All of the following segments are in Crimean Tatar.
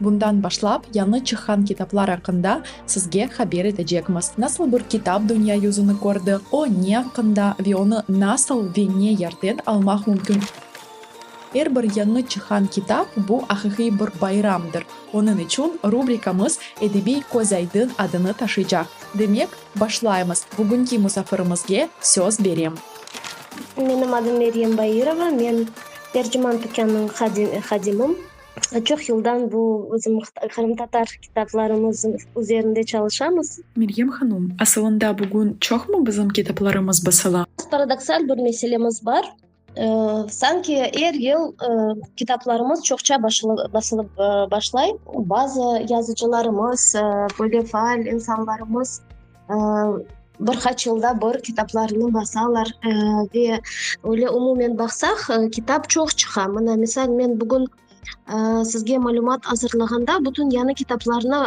Bundan başlap, yañı çıqqan kitaplar aqqında sizge haber etecekmiz, nasıl bir kitap dünya yüzüni kördi, o ne aqqında ve onı nasıl ve ne yerden almaq mümkün. Er bir yañı çıqqan kitap, bu aqiqiy bir bayramdır, onıñ içün rubrikamız Edebiy közaydın adını taşıycaq. Demek, başlaymız, bugünki musafirimizge söz berem. Menim adım Meryem Bairova, men terciman tükânınıñ hadimim. Çoq yıldan bu bizim qırımtatar kitaplarımız üzerinde çalışamız. Meryem hanım, asılında bugün çoqmı bizim kitaplarımız basıla? Paradoksal bir meselemiz bar. Sanki er yıl kitaplarımız çoqça basılıp başlay. Bazı yazıcılarımız, böyle faal insanlarımız. bir qaç yılda bir kitaplarını basalar ve öyle umumen baqsaq kitap çoq çıqa. Mına, misal, men bugün sizge malümat azırlağanda bütün yañı kitaplarnı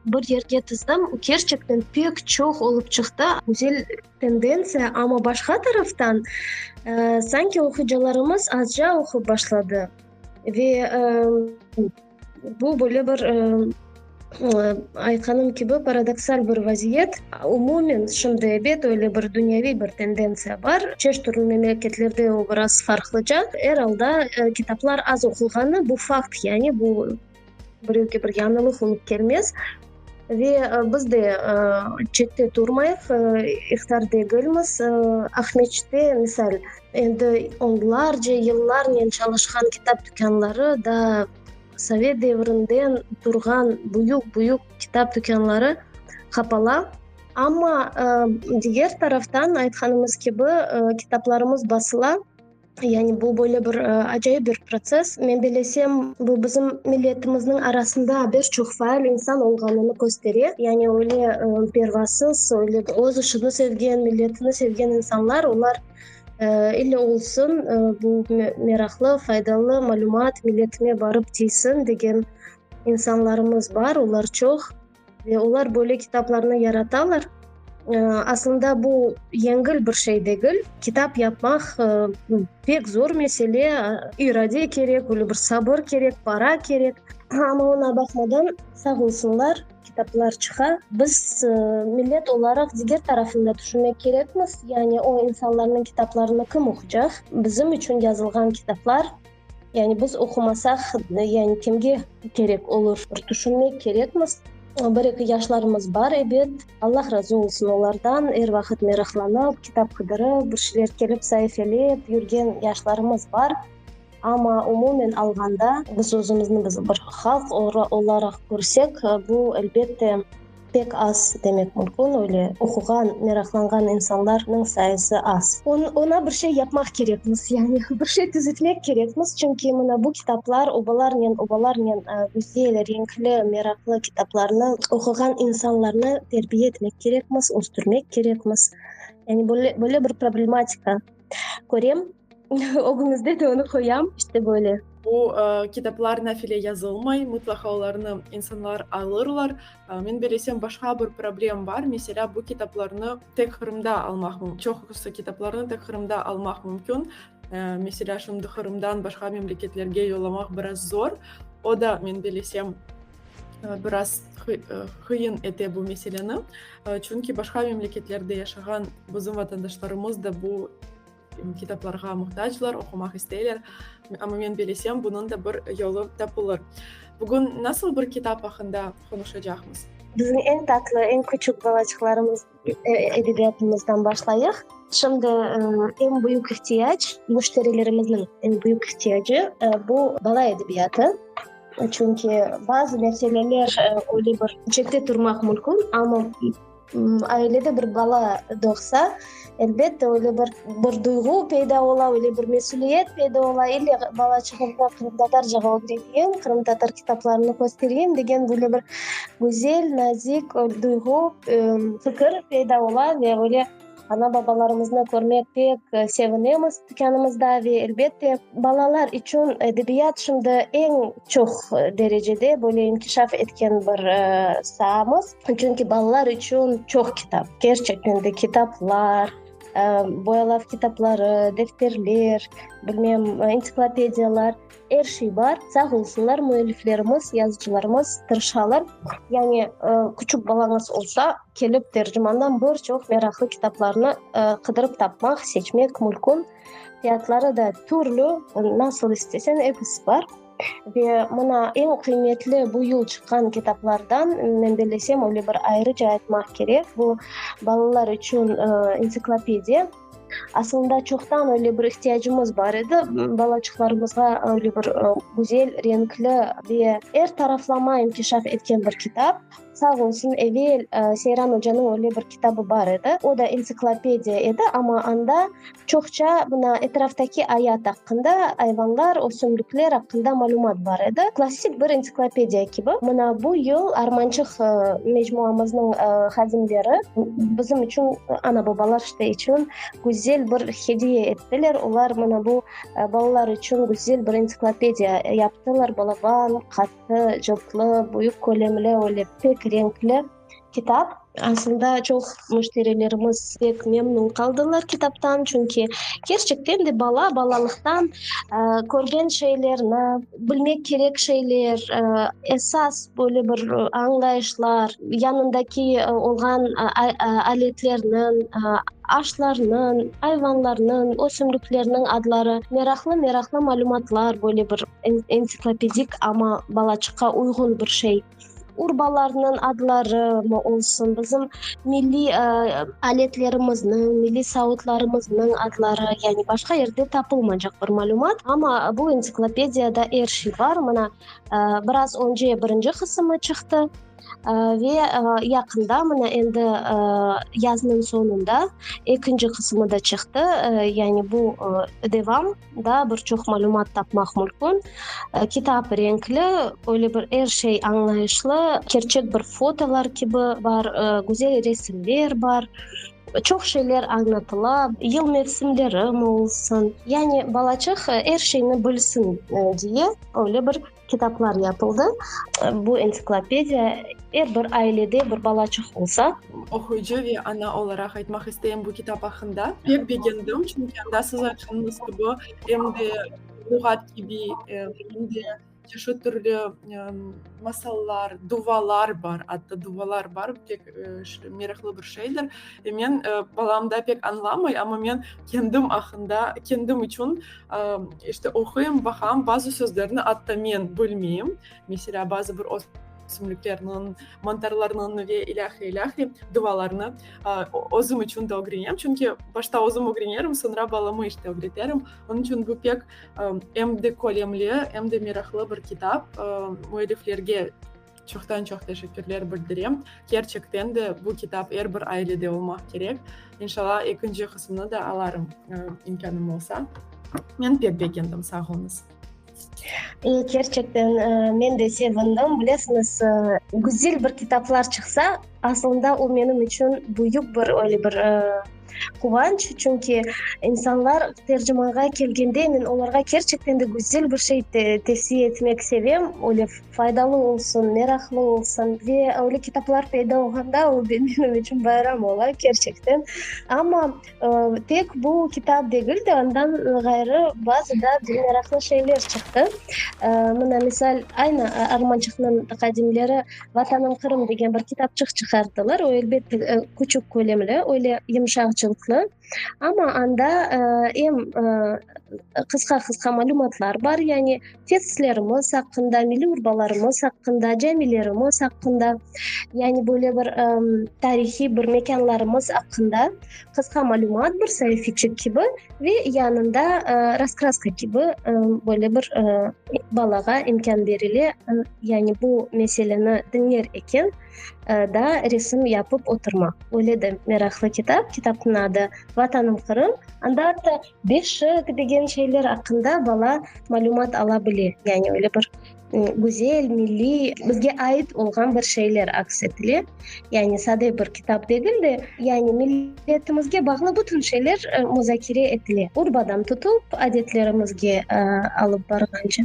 bir yerge tizdim. Kerçekten pek çoq olıp çıqtı. Güzel tendentsiya, amma başqa taraftan sanki oquyıcılarımız azca oqup başladı ve Bu böyle bir, aytqanım kibi, paradoksal bir vaziyet. Umumen, şimdi, ebet, öyle bir dünyeviy bir tendentsiya bar. Çeşit türlü memleketlerde o biraz farqlıca. Er alda, kitaplar az oqulğanı, bu fakt, yani bu birevge bir yañılıq olıp kelmez. Ve biz de çette turmayıq, ihtar degilmiz. Aqmescitte, misal, endi onlarca yıllarnen çalışqan kitap tükânları, daa sovet devrinden turğan büyük-büyük kitap tükânları qapala. Amma diger taraftan, aytqanımız kibi, kitaplarımız basıla. Yani bu böyle bir acayip bir protsess. Men bilesem, bu bizim milletimizniñ arasında bir çoq faal insan olğanını köstere. Yani öyle pervasız, öyle öz işini sevgen, milletini sevgen insanlar, olar ille olsun, bu meraqlı, faydalı malümat, milletime barıp tiysin degen insanlarımız bar, olar çoq. Ve olar böyle kitaplarnı yaratalar. Aslında bu yengil bir şey degil. Kitap yapmaq pek zor mesele, irade kerek, böyle bir sabır kerek, para kerek. Amma oña baqmadan, sağ olsunlar, kitaplar çıqa. Biz millet olaraq diger tarafını da tüşünmek kerekmiz, yani o insanlarnıñ kitaplarını kim oqucaq? Bizim içün yazılğan kitaplar. Yani biz oqumasaq, yani kimge kerek olur? Bir tüşünmek kerekmiz. Bir-eki yaşlarımız bar, ebet. Allah razı olsun olardan, er vaqıt meraqlanıp, kitap qıdırıp, bir şeyler kelip saifelep yürgen yaşlarımız bar. Amma umumen alğanda, biz özümüzni bir halq olaraq körsek, bu, elbette. Pek az demek mümkün, öyle oquğan, meraqlanğan insanlarnıñ sayısı az. Oña bir şey yapmaq kerekmiz, yani bir şey tüzetmek kerekmiz, çünki mına bu kitaplar, obalarnen, obalarnen güzel, renkli, meraqlı kitaplarnı oquğan insanlarnı terbiye etmek kerekmiz, östürmek kerekmiz. Yani böyle bir problematika. körem, ögüñizde de onı qoyam, işte böyle. Bu kitaplar nafile yazılmay, mıtlaqa olarnı insanlar alırlar. Men belesem, başqa bir problem bar, meselâ, bu kitaplarnı tek Qırımda almaq, çoqusı kitaplarnı tek Qırımda almaq mümkün. Meselâ, şimdi Qırımdan başqa memleketlerge yollamaq biraz zor, o da, men belesem, biraz qıyın ete bu meseleni. Çünki başqa memleketlerde yaşağan bizim vatandaşlarımız da bu kitaplarğa muhtaclar, oqumaq isteyler. Amma men bilesem, bunıñ da bir yolu tapılır. Bugün nasıl bir kitap aqqında qonuşacaqmız? Bizim eñ tatlı, eñ küçük balaçıqlarımız. Edebiyatımızdan başlayıq. Şimdi eñ büyük ihtiyac, müşterilerimizniñ eñ büyük ihtiyacı, bu, bala edebiyatı. Çünki bazı meseleler öyle bir çette turmaq mümkün, amma ailede bir bala doğsa, elbette, öyle bir bir duyğu peyda ola, öyle bir mesüliyet peyda ola, ille bala çıqınca qırımtatarca öğreneyim, qırımtatar kitaplarını köstereyim degen böyle bir Güzel, nazik duyğu, fikir peyda ola ve öyle ana-babalarımıznı körmek pek sevinemiz dükânımızda ve, elbette, balalar içün edebiyat şimdi eñ çoq derecede böyle inkişaf etken bir saamız. Çünki balalar içün çoq kitap, kerçekten de kitaplar, boyalav kitapları, defterler, bilmem, entsiklopediyalar. Er şey bar, sağ olsunlar müelliflerimiz, yazıcılarımız tırışalar. Yani küçük balañız olsa, kelip tercimandan bir çoq meraqlı kitaplarnı qıdırıp tapmaq, seçmek mülkün. Fiyatları da türlü, nasıl isteseñ, episi bar. Ve mına eñ qıymetli bu yıl çıqqan kitaplardan, men bellesem, öyle bir ayrıca aytmaq kerek, bu balalar içün entsiklopediya. Asılında çoqtan öyle bir ihtiyacımız bar edi, balaçıqlarımızğa öyle bir güzel, renkli ve er taraflama inkişaf etken bir kitap. Sağ olsun, evel Seyran ocanıñ öyle bir kitabı bar edi, o da entsiklopediya edi, amma anda çoqça mına etraftaki ayat aqqında, ayvanlar, ösümlikler aqqında malümat bar edi. Klassik bir entsiklopediya kibi. Mına bu yıl Armançıq mecmuamıznıñ hadimleri bizim içün ana-babalar Ve içün güzel bir hediye ettiler. Olar mına bu balalar içün güzel bir entsiklopediya yaptılar, balaban, qattı, cıltlı, büyük kölemli, öyle pek renkli kitap. Aslında çoq müşterilerimiz pek memnün qaldılar kitaptan, çünki kerçekten de bala balalıqtan körgen şeylerni, Bilmek kerek şeyler, esas böyle bir añlayışlar, yanındaki olğan aletlerniñ, ağaçlarnıñ, ayvanlarnıñ, ösümliklerniñ adları, meraqlı-meraqlı malümatlar, böyle bir ensiklopedik, amma balaçıqqa uyğun bir şey. urbalarnıñ adları mı olsun, bizim milliy aletlerimizniñ, milliy savutlarımıznıñ adları, yani başqa yerde tapılmaycaq bir malümat. Amma bu entsiklopediyada er şey bar. Mına, biraz önce birinci qısımı çıqtı ve yaqında, mına endi yaznıñ soñunda ekinci qısımı da çıqtı, yani bu devam. Daa bir çoq malümat tapmaq mülkün. Kitap renkli, öyle bir er şey añlayışlı, kerçek bir fotolar kibi bar, güzel resimler bar, çoq şeyler añlatıla, yıl mevsimleri, moolsın, yani balacıq er şeyni bilsin diye öyle bir. Kitaplar yapıldı. Bu entsiklopediya er bir ailede bir balaçıq olsa. Oquyıcı ve ana olaraq aytmaq isteyim bu kitap aqqında. Pek begendim, çünki anda siz aytqanıñız kibi, em de luğat kibi, em de çeşit türlü masallar, duvalar bar, atta duvalar bar, pek meraqlı bir şeydir. Men balam da pek añlamay, amma men kendim aqqında, kendim içün İşte, oquyım, baqam, bazı sözlerni atta men bilmeyim. Meselâ, bazı bir ösümliklerniñ, mantarlarnıñ ve ilâhre ilâhre duvalarını özüm içün de ögrenem. Çünki başta özüm ögrenerim, soñra balamı işte ögreterim. Onıñ içün bu pek em de kölemli, em de meraqlı bir kitap. Müelliflerge Çoqtan-çoq teşekkürler bildirem. Kerçekten de bu kitap er bir ailede olmaq kerek. İnşalla ekinci qısımnı da alarım, imkânım olsa. Men pek begendim, sağ oluñız. Kerçekten men de sevindim. Bilesiñiz, güzel bir kitaplar çıqsa, Asılında o menim içün büyük bir öyle bir quvanç, çünki insanlar tercimanğa kelgende men olarğa kerçekten de güzel bir şey tevsiye etmek sevem, öyle faydalı olsun, meraqlı olsun ve öyle kitaplar peyda olğanda o benim içün bayram ola, kerçekten. Amma Tek bu kitap degil de, ondan ğayrı bazı da meraqlı şeyler çıqtı. Mına, misal, aynı Armançıqnıñ taqadimleri Vatanım Qırım degen bir kitapçıq çıqarttılar. O, elbette, küçük kölemli, öyle yumşaq cıltlı. Amma anda em qısqa-qısqa malümatlar bar, yani tesislerimiz aqqında, milliy urbalarımız aqqında, camilerimiz aqqında, yani böyle bir tarihiy bir mekânlarımız aqqında qısqa malümat bir saifiçik kibi ve yanında raskraska kibi böyle bir balağa imkân berile, yani bu meseleni diñler eken da resim yapıp oturmaq. Böyle de meraqlı kitap, kitapnıñ adı Vatanım Qırım. Anda atta Beşik degen şeyler aqqında bala malümat ala bile, yani öyle bir güzel, milliy, bizge ait olğan bir şeyler aks etile. Yani sade bir kitap degil de, yani milletimizge bağlı bütün şeyler muzakere etile, urbadan tutıp adetlerimizge alıp barğance.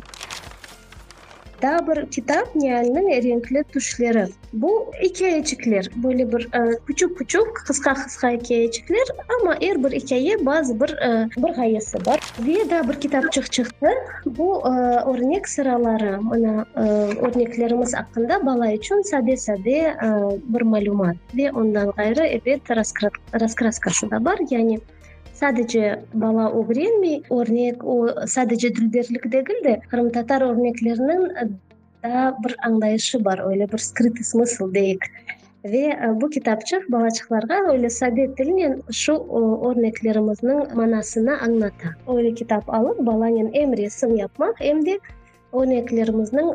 Daa bir kitap, Nialniñ renkli tüşleri. Bu ikâyeçikler, böyle bir küçük-küçük, qısqa-qısqa ikâyeçikler, amma er bir ikâye bazı bir bir ğayesi bar. Ve daa bir kitapçıq çıqtı, bu örnek sıraları, mana, örneklerimiz aqqında bala içün sade-sade bir malümat. Ve ondan ğayrı, ebet, raskraskası da bar, yani. Sadece bala ögrenmey, örnek o, sadece dülberlik degil de, qırımtatar örnekleriniñ daa bir añlayışı bar, öyle bir skritı smısl deyik. Ve bu kitapçıq balaçıqlarğa öyle sade tilnen şu örneklerimizniñ manasını añlata. Öyle kitap alıp, balanen em resim yapmaq, em de örneklerimizniñ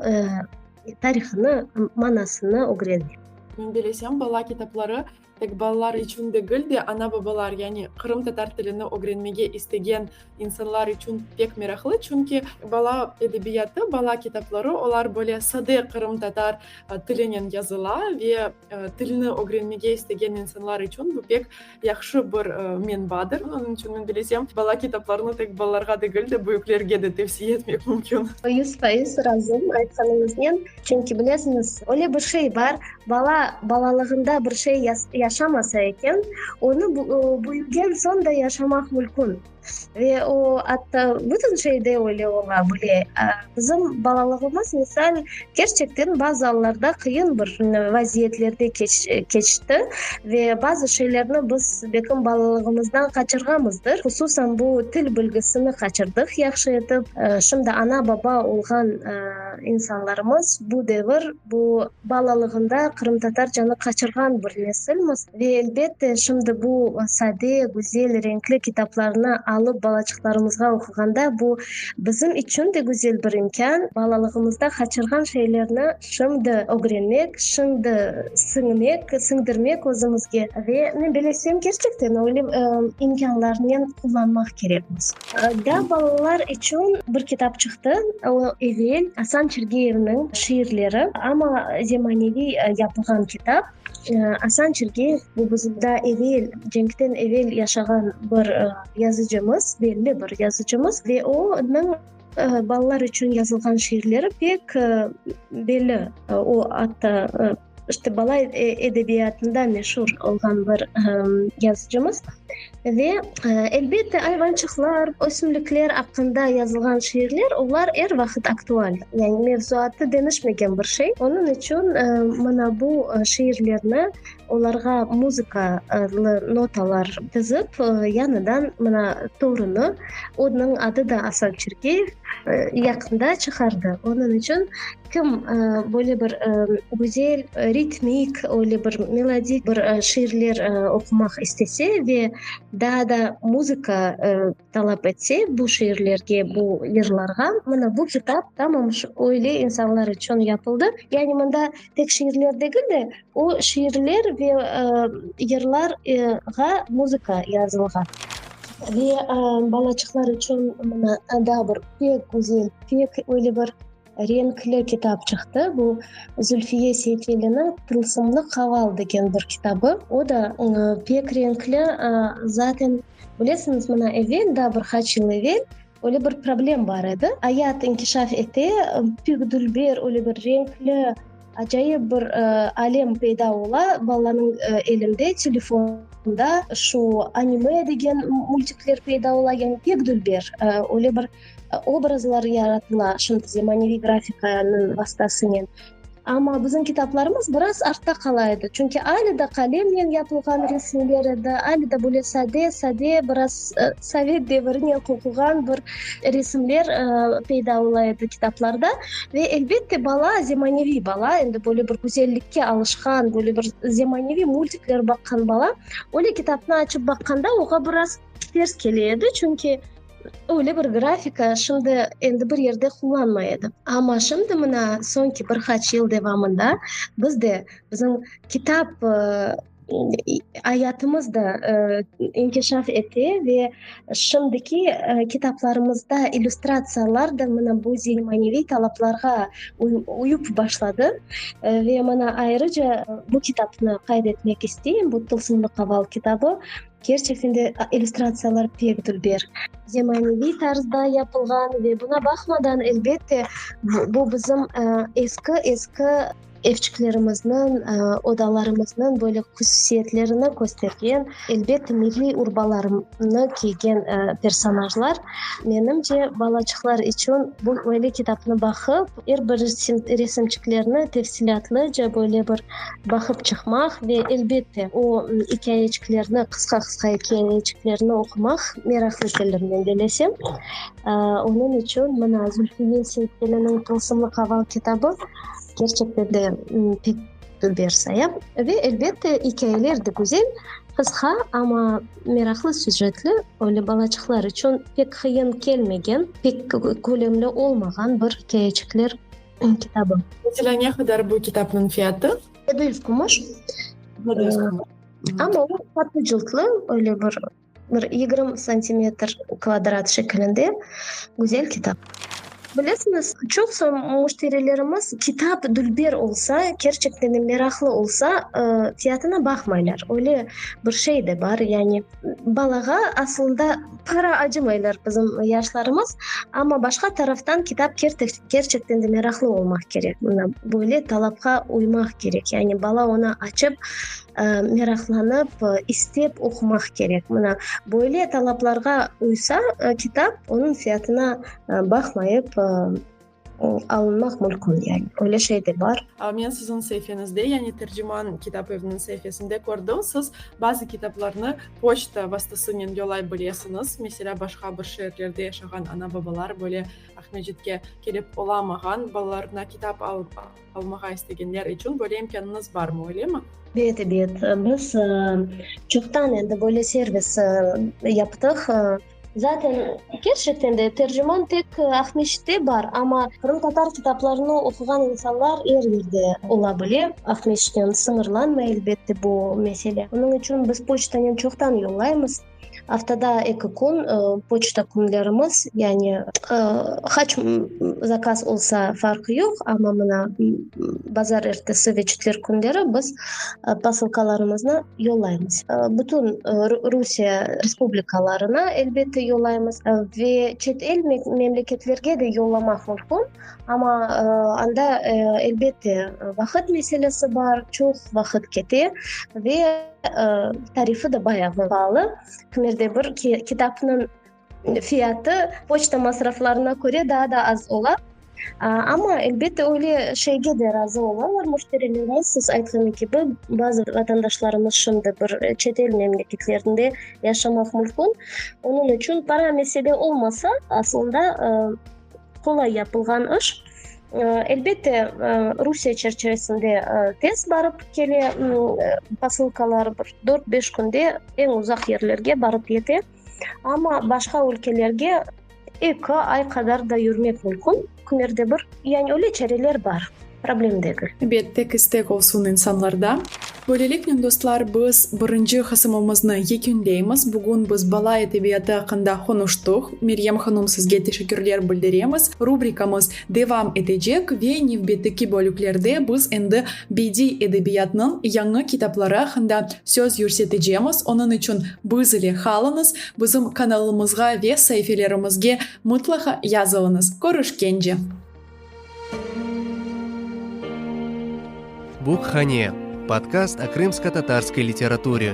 tarihını, manasını ögrenmek. Bilesem, bala kitapları Tek balalar içün degil de, ana-babalar, yani Qırım tatar tilini ögrenmege istegen insanlar içün pek meraqlı, çünki bala edebiyatı, bala kitapları, olar böyle sade Qırım tatar tilinen yazıla ve tilni ögrenmege istegen insanlar içün bu pek yahşı bir menbadır. Onıñ içün men dilesem, bala kitaplarını tek balalarğa degil de, büyüklerge de tevsiye etmek mümkün. Yüz faiz razıyım aytqanıñıznen. Çünki, bilesiñiz, öyle bir şey bar, bala balalığında bir şey yaşamasa eken, onı büyügen soñ da yaşamaq mülkün. Ve o, atta, bütün şeyde öyle ola bile. Bizim balalığımız, misal, kerçekten bazı allarda qıyın bir vaziyetlerde keçti. Ve bazı şeylerni biz belkim balalığımızdan qaçırğanmızdır. Hususan, bu til bilgisini qaçırdıq yahşı etip. Şimdi ana-baba olğan, İnsanlarımız bu devir, bu balalığında qırımtatar canı qaçırğan bir nesilmiz ve elbette şimdi bu sade, güzel, renkli kitaplarnı alıp balaçıqlarımızğa oquğanda bu bizim içün de güzel bir imkân, balalığımızda qaçırğan şeylerni şimdi ögrenmek, şimdi siñmek, siñdirmek özümizge ve men bilesem, kerçekten öyle imkânlarnen qullanmaq kerekmiz. Da balalar içün bir kitap çıqtı, o, evel Asan Çirgeyevniñ şiirleri, amma zemaneviy yapılğan kitap. Asan Çirgeyev, bu bizim daa evel, cenkten evel yaşağan bir yazıcımız, belli bir yazıcımız ve onıñ balalar içün yazılğan şiirleri pek belli, o, atta, İşte bala edebiyatında meşur olğan bir yazıcımız ve elbette ayvançıqlar, ösümlikler aqqında yazılğan şiirler, olar er vaqıt aktual, yani mevzuatı deñişmegen bir şey. Onıñ içün mana bu şiirlerni olarğa muzıkalı notalar tizip, yañıdan mına torunı, onıñ adı da Asan Çirkeyev, yaqında çıqardı. Onıñ içün Kim böyle bir güzel ritmik, öyle bir melodik bir şiirler oqumaq istese ve daa da muzıka talap etse bu şiirlerge, bu yırlarğa, mına bu kitap tamam öyle insanlar içün yapıldı. Yani mında tek şiirler degil de, o şiirler ve yırlarğa muzıka yazılğan. Ve balaçıqlar içün mına daa bir pek güzel, pek öyle bir Renkli kitap çıqtı. Bu Zülfiye Seyfeliniñ Tılsımlı qaval degen bir kitabı. O da pek renkli. Zaten, bilesiñiz, mına evel, daa bir qaç yıl evel öyle bir problem bar edi. Ayat inkişaf ete, pek dülber, öyle bir renkli, acayip bir alem peyda ola. Balanıñ elinde, telefonında şu anime degen multikler peyda ola. Yani pek dülber, öyle bir. Obrazlar yaratıla, şimdi zemaneviy grafikanıñ vastasınen. Amma bizim kitaplarımız biraz artta qala edi, çünki ale de qalemnen yapılğan resimler edi, ale de böyle sade, sade, biraz sovet devirinen qoquğan bir resimler peyda ola edi kitaplarda. Ve elbette, bala, zemaneviy bala, endi böyle bir güzellikke alışqan, böyle bir zemaneviy multikler baqqan bala öyle kitapnı açıp baqqanda, oña biraz ters kele edi, çünki, Öyle bir grafika şimdi endi bir yerde qullanmay edi. Amma şimdi mına soñki bir qaç yıl devamında biz de bizim kitap ayatımız da inkişaf ete ve şimdiki kitaplarımızda illüstratsiyalar da mına bu zilmaneviy talaplarğa uyup başladı. Ve mına ayrıca bu kitapnı qayd etmek isteyim, bu Tılsımlı qaval kitabı. Kerçekten de illüstratsiyalar pek dülber, zemaneviy tarzda yapılğan ve buna baqmadan, elbette, bu bizim eski-eski evçiklerimizniñ, odalarımıznıñ böyle hususiyetlerini köstergen, elbette, milliy urbalarnı kiygen personajlar. Menimce, balaçıqlar içün bu böyle kitapnı baqıp, er bir resimçiklerini tefsilâtlıca, böyle bir Baqıp çıqmaq ve, elbette, o ikâyeçiklerni, qısqa-qısqa ikâyeçiklerni oqumaq meraqlı keldi mende Lâsem. Onıñ içün mına Zülfiye Seytkeliniñ Tılsımlı qaval kitabı kerçekten de pek bir saya. Ve, elbette, ikâyeler de güzel, qısqa, amma meraqlı süjetli, öyle balaçıqlar içün pek qıyın kelmegen, pek kölemli olmağan bir ikâyeçikler. kitabı. Mesela ne qadar bu kitapnıñ fiyatı? Yedi yüz kumuş. Yedi yüz kumuş. Amma o tatlı cıltlı, öyle bir bir yigirmi santimetr kvadrat şekilinde güzel kitap. Bilesiñiz, çoq soñ müşterilerimiz kitap dülber olsa, kerçekten de meraqlı olsa, fiyatına baqmaylar. Öyle bir şey de bar, yani. Balağa asılında para acımaylar bizim yaşlarımız, amma başqa taraftan kitap kerçekten de meraqlı olmaq kerek. Mına böyle talapqa uymaq kerek. Yani bala onı açıp, meraqlanıp, istep oqumaq kerek. Mına böyle talaplarğa uysa kitap, onıñ fiyatına baqmayıp, Alınmaq mülkün, yani, öyle şey de bar. Men siziñ sahifeñizde, yani Terciman kitap eviniñ saifesinde kördim, siz bazı kitaplarnı poçta vastasınen yollay bilesiñiz. Meselâ, başqa bir şeerlerde yaşağan ana-babalar böyle Aqmescitke kelip olamağan, balalarına kitap alıp almağa istegenler içün böyle imkânıñız barmı, öylemi? Ebet, ebet. Biz çoqtan endi böyle servis yaptıq. Zaten, kerçekten de, terciman tek Aqmescitte bar, amma qırımtatar kitaplarını oquğan insanlar er yerde ola bile. Aqmescitten sıñırlanmay, elbette, bu mesele. Onıñ içün biz poçtanen çoqtan yollaymız. Aftada eki kün poçta künlerimiz, yani, qaç zakaz olsa, farqı yoq, amma mına bazar ertesi ve çetver künleri biz posilkalarımıznı. yollaymız. Bütün Rusiye respublikalarına elbette yollaymız ve çet el memleketlerge de yollamaq mümkün, amma anda elbette vaqıt meselesi bar, çoq vaqıt kete ve tarifi de bayağı pahalı, kimerde bir kitapnıñ Fiyatı poçta masraflarına köre daa da az ola. Amma, elbette, öyle şeyge de razı olalar müşterilerimiz. Siz aytqanı kibi, bazı vatandaşlarımız şimdi bir çet el memleketlerinde yaşamaq mümkün. Onıñ içün para mesele olmasa, aslında qolay yapılğan iş. Elbette, Rusiye çerçivesinde tez barıp kele posılkalar, bir dört-beş künde eñ uzaq yerlerge barıp yete. Amma başqa ülkelerge eki ay qadar da yürmek mümkün, kimlerde bir, yani öyle çareler bar, problem degil. Bet, tek istek olsun insanlarda. Böyleliknen, dostlar, biz birinci qısımımıznı yekünleymiz. Bugün biz bala edebiyatı aqqında qonuştıq. Meryem hanım, sizge teşekkürler bildiremiz. Rubrikamız. devam etecek ve nevbetteki bölüklerde biz endi bediy edebiyatnıñ yañı kitapları aqqında söz yürsetecemiz, onıñ içün biz ile qalıñız, bizim kanalımızğa ve saifelerimizge mıtlaqa yazılıñız. Körüşkence! Bukhane, Podkast o krımsko-tatarskoi literaturi.